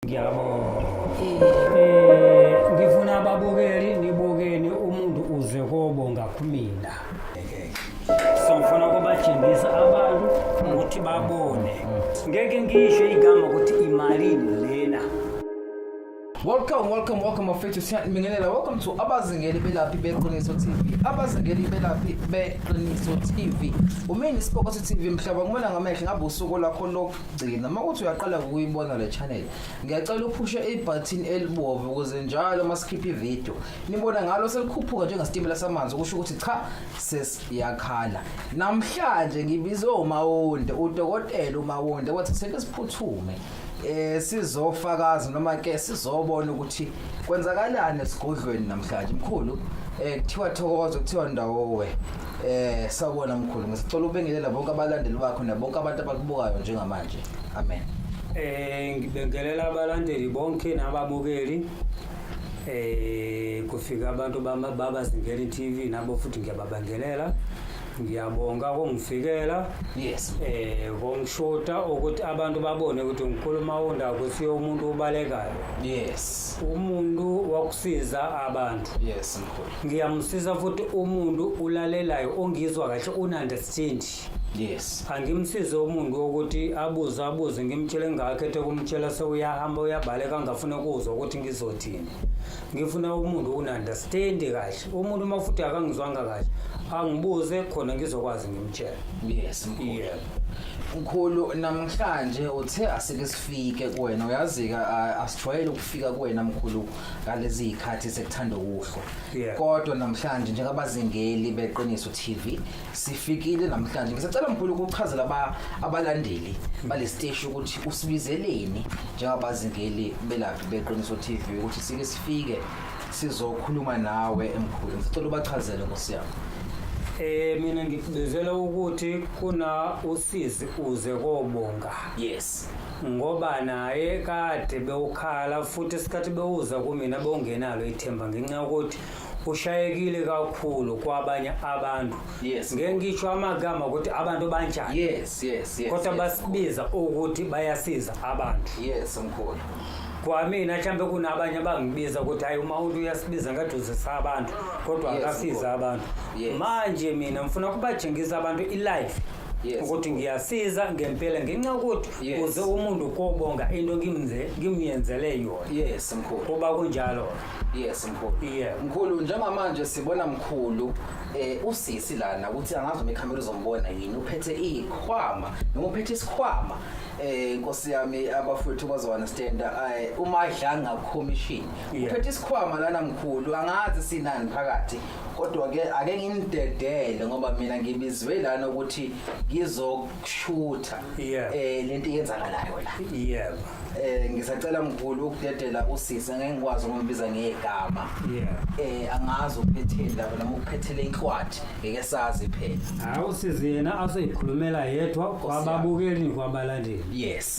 Ngiyabonga. Eh ngifuna ababukeli nibukeni umuntu uze kobonga kumina. Sifuna kubatshengisa abantu ukuthi babone. Ngeke ngisho igama ukuthi imali lena. Welcome, welcome, welcome mafethu siyanibingelela. Welcome to abazingeli belaphi beqiniso TV. Abazingeli belaphi beqiniso TV. Umini Sibokotho TV mhlaba ngibona ngamehlo ngabe usuku lakho lokho. gcina uma kuthi uyaqala ukuyibona le channel ngiyacela uphushe ibutton elibomvu ukuze njalo uma sikhipha ivideo nibona ngalo selikhuphuka njengesitimela samanzi kusho ukuthi cha sesiyakhala namhlanje ngibizwe umawonde udokotela umawonde wathi sike siphuthume eh sizofakaza noma ke sizobona ukuthi kwenzakalani esigodlweni namhlanje mkhulu eh kuthiwa thokozo kuthiwa ndawo we Eh sawubona mkhulu ngisicela ubengelela bonke abalandeli bakho nabonke abantu abakubukayo njengamanje. Amen. Eh ngibengelela abalandeli bonke nababukeli. Eh kufika abantu bama baba Zingeli TV nabo futhi ngiyababangelela. Ngiyabonga kongifikela. Yes. Eh kongishoda ukuthi abantu babone ukuthi ngikhuluma unda ukuthi umuntu ubalekayo. Yes. Umuntu wakusiza abantu. Yes mkhulu. ngiyamsiza futhi umuntu ulalelayo ongizwa kahle ununderstand yes angimsize umuntu wokuthi abuze abuze ngimtshele ngingakhethe kumtshela sewuyahamba uyabaleka ngafuna ukuzwa ukuthi ngizothini ngifuna umuntu ununderstand kahle umuntu uma futhi akangizwanga kahle angibuze khona ngizokwazi ngimtshela yes mkhulu yeah. mkhulu namhlanje uthe asike sifike kuwena uyazika asijwayele ukufika kuwena mkhulu ngalezi zikhathi sekuthanda ukuhlwa Yeah. kodwa namhlanje njengabazingeli beqiniso TV sifikile namhlanje ngisacela mkhulu ukuchazela aba- abalandeli balesiteshi ukuthi usibizeleni njengabazingeli belaphi beqiniso TV ukuthi sike sifike sizokhuluma nawe emkhulu ngisacela ubachazele ngosiyami Eh mina ngikubizela ukuthi kuna usizi uze kobonga. yes ngoba naye kade bewukhala futhi isikhathi bewuza kumina bewungenalo ithemba ngenxa yokuthi ushayekile kakhulu kwabanye abantu Yes. ngeke ngisho amagama ukuthi abantu banjani yes yes yes kodwa yes, basibiza ukuthi bayasiza abantu yes mkhulu kwamina mhlawumbe kunabanye abangibiza ukuthi hayi uma umuntu uyasibiza ngathi uzisa abantu kodwa Yes, akasiza mkhulu. abantu Yes. manje mina ngifuna kubatshengisa abantu ilife Yes. ukuthi ngiyasiza ngempela ngenxa ukuthi Yes. uze umuntu kobonga into ngimze ngimyenzele yona yes mkhulu kuba kunjalo yes mkhulu Yeah. mkhulu njengamanje sibona mkhulu eh usisi lana ukuthi angazi uma ikhamera uzombona yini uphethe ikhwama noma uphethe isikhwama eh inkosi yami abafowethu bazounderstand eh umadlanga commission Yeah. uphethe isikhwama lana mkhulu angazi sinani phakathi kodwa ke ake ngimdedele ngoba mina ngibizwe lana ukuthi ngizokushutha Yeah. eh lento yenzakalayo la yebo eh ngisacela mkhulu ukudedela usisi ngeke ngikwazi ukumbiza ngegama yebo eh angazi ukuphetheni lapho noma ukuphethele inhlwathi ngeke sazi phela hawu sizi yena aseyikhulumela yedwa kwababukeli kwabalandeli yes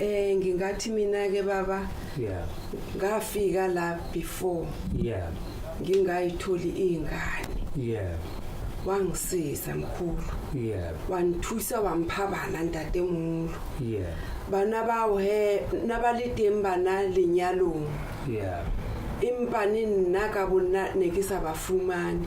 Eh ngingathi mina ke baba yeah ngafika la before yeah ngingayitholi ingane yeah wangisiza mkhulu yeah wangithusa wamphabana ntatemulu yeah bana bawo he nabaliteng bana lenyalong yeah empa ne nna ka bonna ne ke sa ba fumane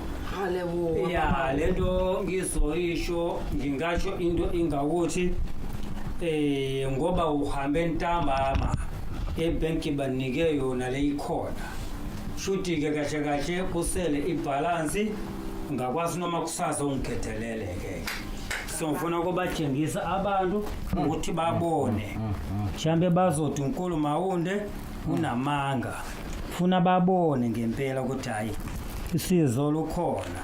Hale bo. Ya lento ngizoyisho ngingasho into ingakuthi eh ngoba uhambe ntambama ebank banike yona leyikhona. Shuthi ke kahle kahle kusele ibalance ngakwazi noma kusasa ungigedelele ke. So ngifuna ukubatshengisa abantu ukuthi babone. Mhlambe bazothi uNkulu Mawunde kunamanga funa babone ngempela ukuthi hayi isizo lukhona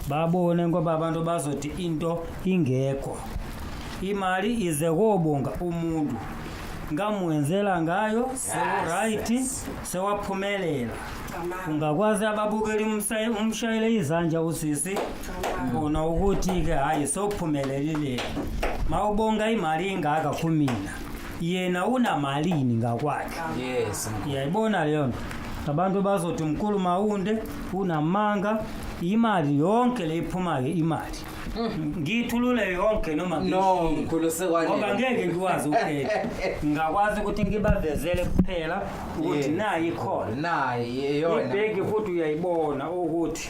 babone ngoba abantu bazothi into ingekho imali ize kobonga umuntu ngamwenzela ngayo sewuright sewaphumelela ungakwazi ababukeli umshayele izandla usisi bona ukuthi-ke hhayi sophumelelile ma ubonga imali ingaka kumina yena unamalini ngakwakhe yes yayibona leyo nto abantu bazothi umkhulu mawunde unamanga imali yonke le iphumayo imali ngiyithulule yonke noma no ngiyishilo. mkhulu ngoba sekwanele ngeke ngikwazi ukukhetha ngingakwazi ukuthi ngibavezele kuphela ukuthi Yes. nayo ikhona naye yeyona ibheki futhi uyayibona ukuthi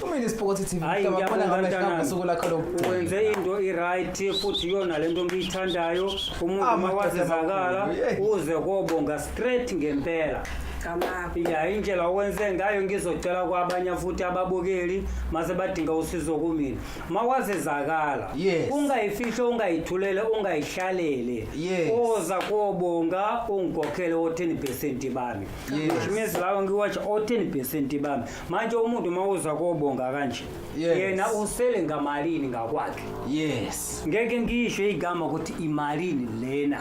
Kumele siphokothe TV Hayi, mhlaba khona ngiyabonga, ngamehla mntanami. ngosuku lakho lo. wenze into iright futhi iyona le nto ngiyithandayo umuntu Ah, uma wazizakala madoda amakhulu, uze kobonga straight ngempela Kamako. ya indlela okwenze ngayo ngizocela kwabanye futhi ababukeli mase badinga usizo kumina uma wazizakala Yes. ungayifihle ungayithulele ungayihlalele Yes. oza kobonga ungikhokhele o-10 percent bami Yes. which means lawo ngiwatsha o-10 percent bami manje umuntu uma uza kobonga kanje Yes. yena usele ngamalini ngakwakhe yes ngeke ngisho igama ukuthi imalini lena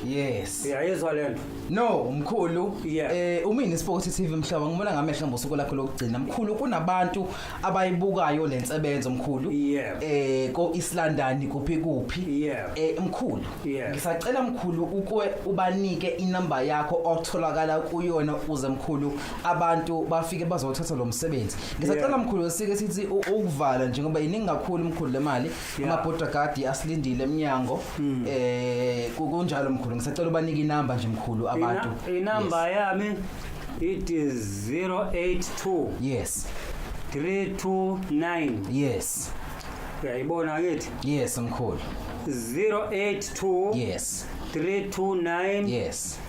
yes uyayizwa le nto no mkhulu Yeah. eh umini sport tv mhlaba ngibona ngamehla ngosuku lakho lokugcina mkhulu kunabantu abayibukayo le nsebenzo mkhulu Yeah. eh ko East London kuphi kuphi Yeah. eh mkhulu Yeah. ngisacela mkhulu ukwe ubanike inamba yakho otholakala kuyona uze mkhulu abantu bafike bazothatha lo msebenzi ngisacela Yeah. mkhulu sike sithi u- ukuvala njengoba yiningi kakhulu mkhulu le mali Yeah. amabhodra gadi asilindile emnyango um kunjalo mkhulu ngisacela ubanike inamba nje mkhulu abantu Ina- inamba yami it is 082 yes 329 yes uyayibona kithi yes mkhulu 082 yes 329 yes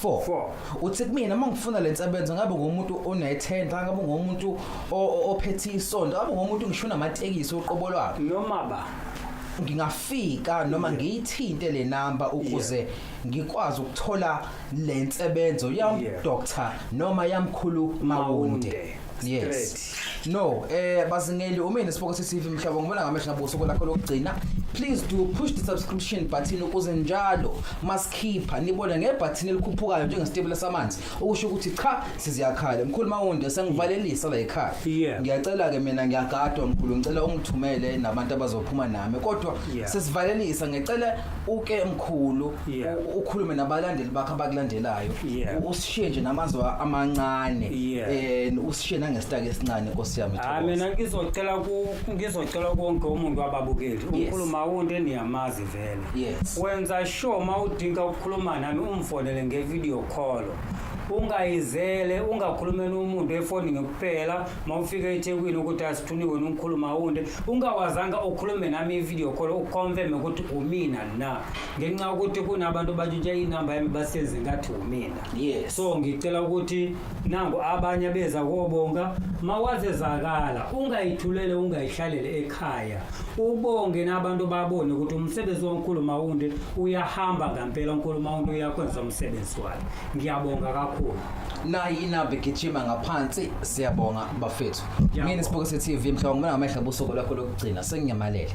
Four. Four. uthi kumina uma ngifuna le nsebenzo ngabe ngumuntu onethenda ngabe ngumuntu o- o- ophethe isonto ngabe ngumuntu ngisho unamatekisi uqobo lwakhe noma ba ngingafika noma ngiyithinte le namba ukuze ngikwazi ukuthola le nsebenzo yam Yeah. doctor noma yamkhulu mawunde Mawunde. yes Straight. No, eh bazingeli umina siboko sesivi mhlaba ngibona ngamehla buso kolakho lokugcina. Please do push the subscription button ukuze njalo masikhipha nibone ngebutton elikhuphukayo njengesitebula samanzi okusho ukuthi cha siziyakhala. Mkhulu Mawunde sengivalelisa la ekhaya. Yeah. Ngiyacela ke mina ngiyagadwa mkhulu ngicela ungithumele nabantu abazophuma nami kodwa Yeah. sesivalelisa ngicela uke mkhulu Yeah. u- ukhulume nabalandeli bakho abakulandelayo Yeah. U- usishiye nje namazwi amancane Yeah. eh usishiye nangesitaki esincane nkosi yami hayi Thokoza. mina ngizocela ku- ngizocela konke umuntu wababukeli Yes. umkhuluma wonke eniyamazi vele Yes. wenza sure uma udinga ukukhuluma nami umfonele nge-video call ungayizele ungakhulumeli umuntu efonini kuphela uma ufika ethekwini ukuthi asifuni wena ungikhuluma wunde ungawazanga ukhulume nami ivideo call uconfirme ukuthi umina na ngenxa yokuthi kunabantu batshintsha inamba yami basenze ngathi umina yes. so ngicela ukuthi nangu abanye beza kobonga mawazezakala ungayithulele ungayihlalele ekhaya ubonge nabantu babone ukuthi umsebenzi wankulu mawunde uyahamba ngampela unkulu mawunde uyakwenza umsebenzi wakhe ngiyabonga kakhulu nayi inamba igijima ngaphansi siyabonga bafethu mina sibukise TV mhlawumbe ngamehla busuku lakho lokugcina senginyamalele